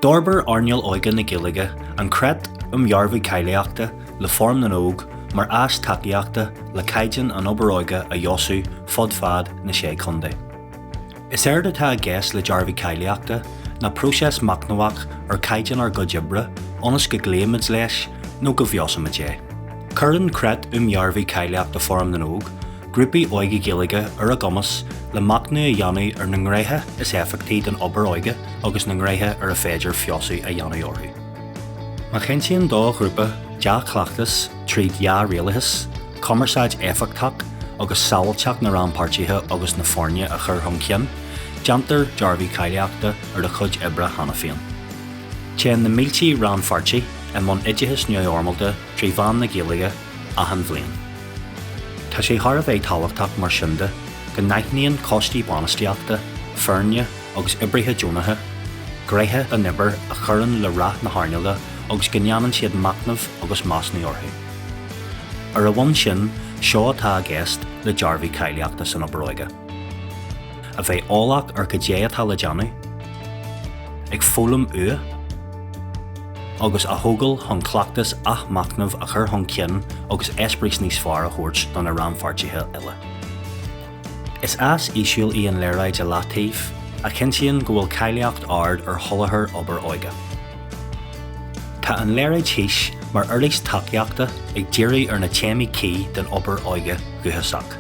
D'fhorbair Earnáil Óige na Gaeilge an Creat um Dhearbhú Cáilíochta le Fóram na nÓg mar áis tacaíochta le caighdeán an obair óige a fheabhsú fud fad na Sé Chontae. Is éard atá i gceist le Dearbhú Cáilíochta ná próiseas machnamhach ar chaighdeán ár gcuid oibre ionas go gcloímid leis nó go bhfeabhsaímid é. Cuireann Creat um Dhearbhú Cáilíochta Fóram na nÓg Grúpaí Óige Gaeilge ar a gcumas le machnamh a dhéanamh ar na ngréithe is éifeachtaí den obair óige agus na ngréithe ar a féidir feabhsú a dhéanamh orthu. Má chinntíonn do ghrúpa dea-chleachtas tríd dhea-rialachas, cumarsáid éifeachtach agus sábháilteacht na rannpháirtithe agus na foirne a chur chun cinn, déantar dearbhú cáilíochta ar a chuid oibre cheana féin. Téann na mílte rannpháirtí i mbun oideachais neamhfhoirmeálta trí mheán na Gaeilge achan bhliain. Tá sé thar a bheith tábhachtach mar sin de go n-aithníonn coistí bainistíochta, foirne agus oibrithe deonacha gréithe an obair a chuireann le rath na hearnála agus go ndéanann siad machnamh agus measúnú orthu. Ar an bhonn sin, seo atá i gceist le Dearbhú Cáilíochta san Obair Óige. A bheith eolach ar cad é atá le déanamh. Ag foghlaim uaidh. agus a thógáil chun cleachtas athmhachnamh a chur chun cinn agus eispéireas níos fearr a thabhairt do na rannpháirtithe uilig. Is áis aisiúil í an léaráid i leataobh, a chinntíonn go bhfuil cáilíocht ard ar sholáthar obair óige. Tá an léaráid thíos mar uirlis tacaíochta ag díriú ar na téamaí cuí den obair óige dhúchasach.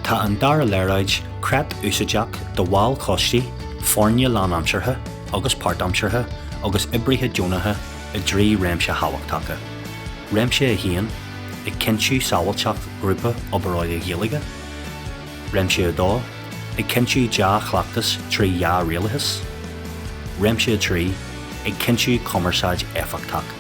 Tá an dara léaráid, creat úsáideach do bhaill coistí, foirne lánaimseartha, agus páirtaimseartha agus oibrithe deonacha i dtrí réimse thábhachtacha, Réimse 1, ag cinntiú sábháilteacht grúpa obair óige Gaeilge, Réimse 2, ag cinntiú dea-chleachtas trí dhea-rialachas, Réimse 3, ag cinntiú cumarsáid éifeachtach.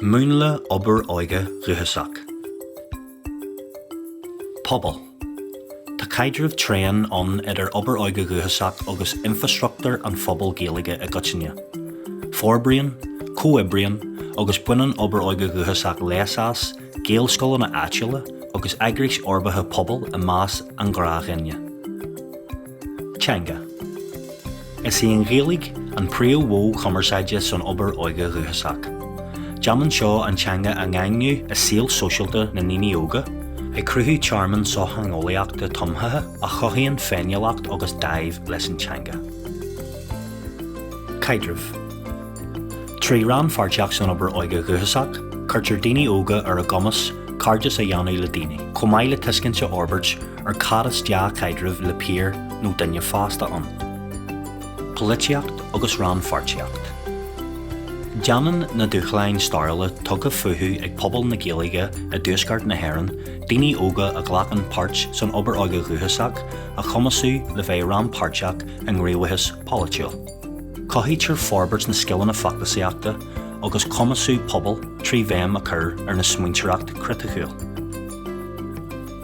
Múnla Obair Óige Dhúchasach. Pobal, Tá caidreamh tréan ann idir Obair Óige Dhúchasach agus infreastruchtúr an phobail Gaeilge i gcoitinne. Forbraíonn, comhoibríonn agus baineann Obair Óige Dhúchasach leas as, Gaelscoileanna áitiúla agus eagrais fhorbartha pobail i measc an ghnáthduine. Teanga Is í an Ghaeilge an príomh-mhodh cumarsáide san obair óige dhúchasach. Déanann seo an teanga a dhaingniú i saol sóisialta na ndaoine óga, ag cruthú tearmann sochtheangeolaíochta tumthaithe a chothaíonn féiniúlacht agus dáimh leis an teanga. Caidrimh. Trí rannpháirtíocht san obair óige dhúchasach, cuirtear daoine óga ar a gcumas cairdeas a dhéanamh le daoine, chomh maith le tuiscint a fhorbairt ar cad is dea-chaidreamh le píar nó duine fásta ann. Polaitíocht agus rannpháirtíocht Déanann na dúshláin stairiúla tugtha fúthu ag pobal na Gaeilge i dTuaisceart na hÉireann daoine óga a ghlacann páirt san obair óige dhúchasach a chumasú le bheith rannpháirteach i ngníomhaíochas polaitiúil. Cothaítear forbairt na scileanna feachtasaíochta agus cumasú pobail trí bhéim a chur ar na smaointeoireacht chriticiúil.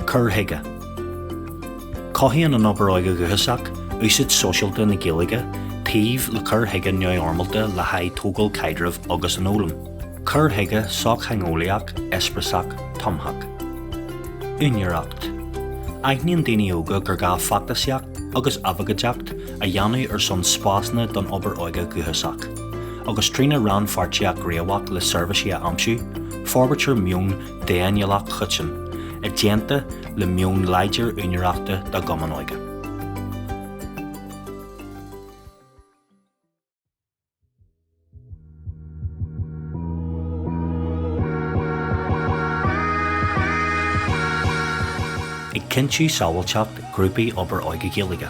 Cur chuige, Cothaíonn an obair óige dhúchasach úsáid sóisialta na Gaeilge taobh le cur chuige neamhfhoirmeálta le haghaidh tógáil caidrimh agus an fhoghlaim. Cur chuige sochtheangeolaíoch eispreasach tumthach. Úinéireacht, Aithníonn daoine óga gur gá feachtasaíocht agus abhcóideacht a dhéanamh ar son spásanna don obair óige dhúchasach, agus trína rannpháirtíocht ghníomhach le seirbhísí a aimsiú, forbraítear meon d'fhéiniúlacht choiteann, i dteannta le meon láidir úinéireachta dá gcumann óige. Ag cinntiú sábháilteacht grúpaí Obair Óige Gaeilge.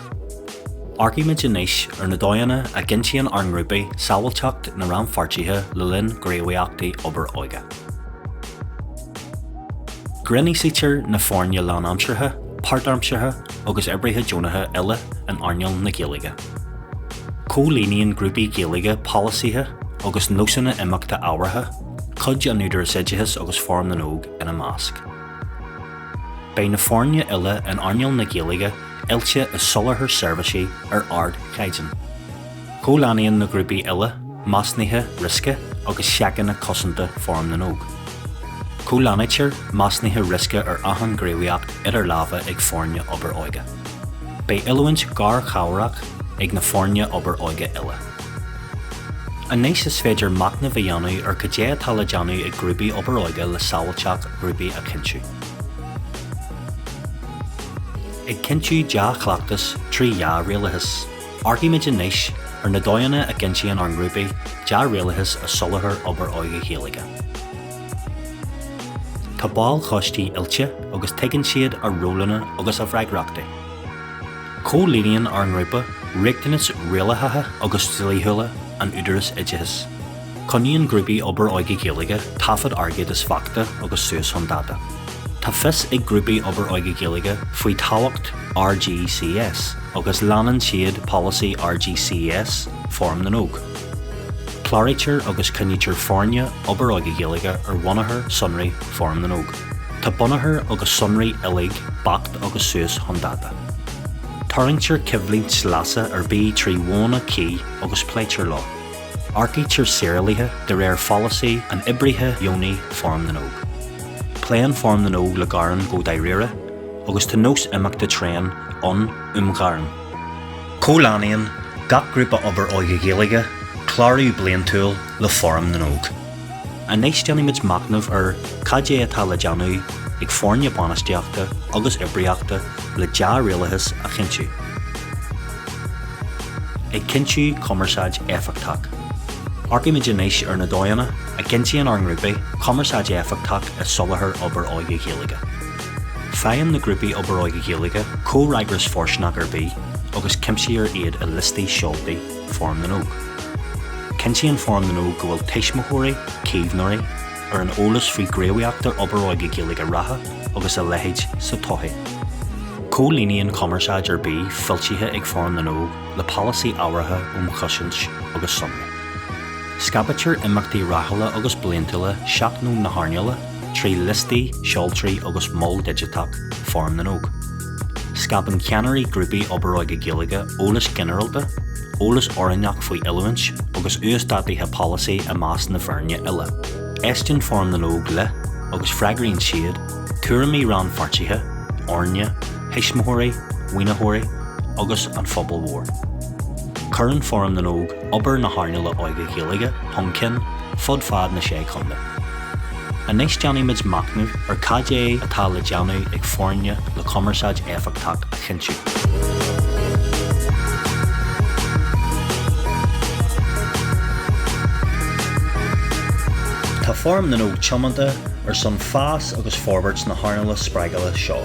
Amharcaímid anois ar na dóigheanna a gcinntíonn ár ngrúpaí sábháilteacht na rannpháirtithe le linn gníomhaíochtaí Obair Óige. Grinnfhiosraítear na foirne lánaimseartha, páirtaimseartha agus oibrithe deonacha uile in earnáil na Gaeilge. Comhlíonann grúpaí Gaeilge polasaithe agus nósanna imeachta ábhartha, cuid an Údaráis Oideachais agus Fóram na nÓg ina measc. Beidh na foirne uile in earnáil na Gaeilge oilte i soláthar seirbhísí ar ardchaighdeán. Comhlánaíonn na grúpaí uile measúnuithe riosca agus seiceanna cosanta Fóram na nÓg. Comhlánaítear measúnuithe riosca ar achan gníomhaíocht idir lámha ag foirne obair óige. Beidh oiliúint garchabhrach ag na foirne obair óige uile. Anois is féidir machnamh a dhéanamh ar cad é atá le déanamh ag grúpaí obair óige le sábháilteacht ghrúpaí a chinntiú. Ag cinntiú dea-chleachtas trí dhea-rialachas. Amharcaímid anois ar na dóigheanna a gcinntíonn ár ngrúpaí dea-rialachas i soláthar obair óige Ghaeilge. Tá baill choistí oilte agus tuigeann siad a rólanna agus a bhfreagrachtaí. Comhlíonann ár ngrúpa riachtanais rialaitheacha agus dlíthiúla an Údaráis Oideachais. Coinníonn grúpaí obair óige Gaeilge taifead airgid is beachta agus suas chun dáta. Tá fios ag grúpaí obair óige Gaeilge faoi thábhacht RGCS agus leanann siad polasaí RGCS Fóram na nÓg. Cláraítear agus coinnítear foirne Obair Óige Gaeilge ar bhunachar sonraí Fóram na nÓg. Tá bunachar agus sonraí uilig beacht agus suas chun dáta. Tarraingtear coimhlint leasa ar bith trí mhodhanna cuí agus pléitear leo. Earcaítear saorálaithe de réir pholasaí an oibrithe dheonaigh Fóram na nÓg. Pléann Fóram na nÓg le gearáin go dáiríre agus tá nós imeachta tréan ann um ghearáin. Comhlánaíonn gach grúpa obair óige Gaeilge clárú bliantúil le Fóram na nÓg. Anois déanaimid machnamh ar cad é atá le déanamh ag foirne bainistíochta agus oibríochta le dea-rialachas a chinntiú. Ag cinntiú cumarsáid éifeachtach. Amharcaimid anois ar na dóigheanna a gcinntíonn ár ngrúpaí cumarsáid éifeachtach i soláthar obair óige Gaeilge. Faigheann na grúpaí obair óige Gaeilge comhfhreagras fóirsteanach ar bith agus cuimsíthear iad i liostaí seoltaí Fóram na nÓg. Cinntíonn Fóram na nÓg go bhfuil tuismitheoirí, caomhnóirí, ar an eolas faoi ghníomhaíochtaí obair óige Gaeilge reatha agus a leithéid sa todhchaí. Comhlíonann cumarsáid ar bith foilsithe ag Fóram na nÓg le polasaí ábhartha um chosaint agus sonraí. Scaiptear imeachtaí ráithiúla agus bliantúla seachnóin na hearnála trí liostaí seoltaí agus mol digiteach Fóram na nÓg. Scaipeann ceannairí grúpaí Obair Óige Gaeilge eolas ginearálta, eolas oiriúnach faoi oiliúint agus uasdátuithe polasaí i measc na bhfoirne uile. Éisteann Fóram na nÓg le, agus freagraíonn siad, tuairimí rannpháirtithe, fhoirne, thuismitheoirí, mhaoinitheoirí agus an phobail mhóir. Cuireann Fóram na nÓg obair na hearnála óige Gaeilge chun cinn fud fad na Sé Chontae. Anois déanfaimid machnamh ar cad é atá le déanamh ag foirne le cumarsáid éifeachtach a chinntiú. Tá Fóram na nÓg tiomanta ar son fás agus forbairt na hearnála spreagúla seo.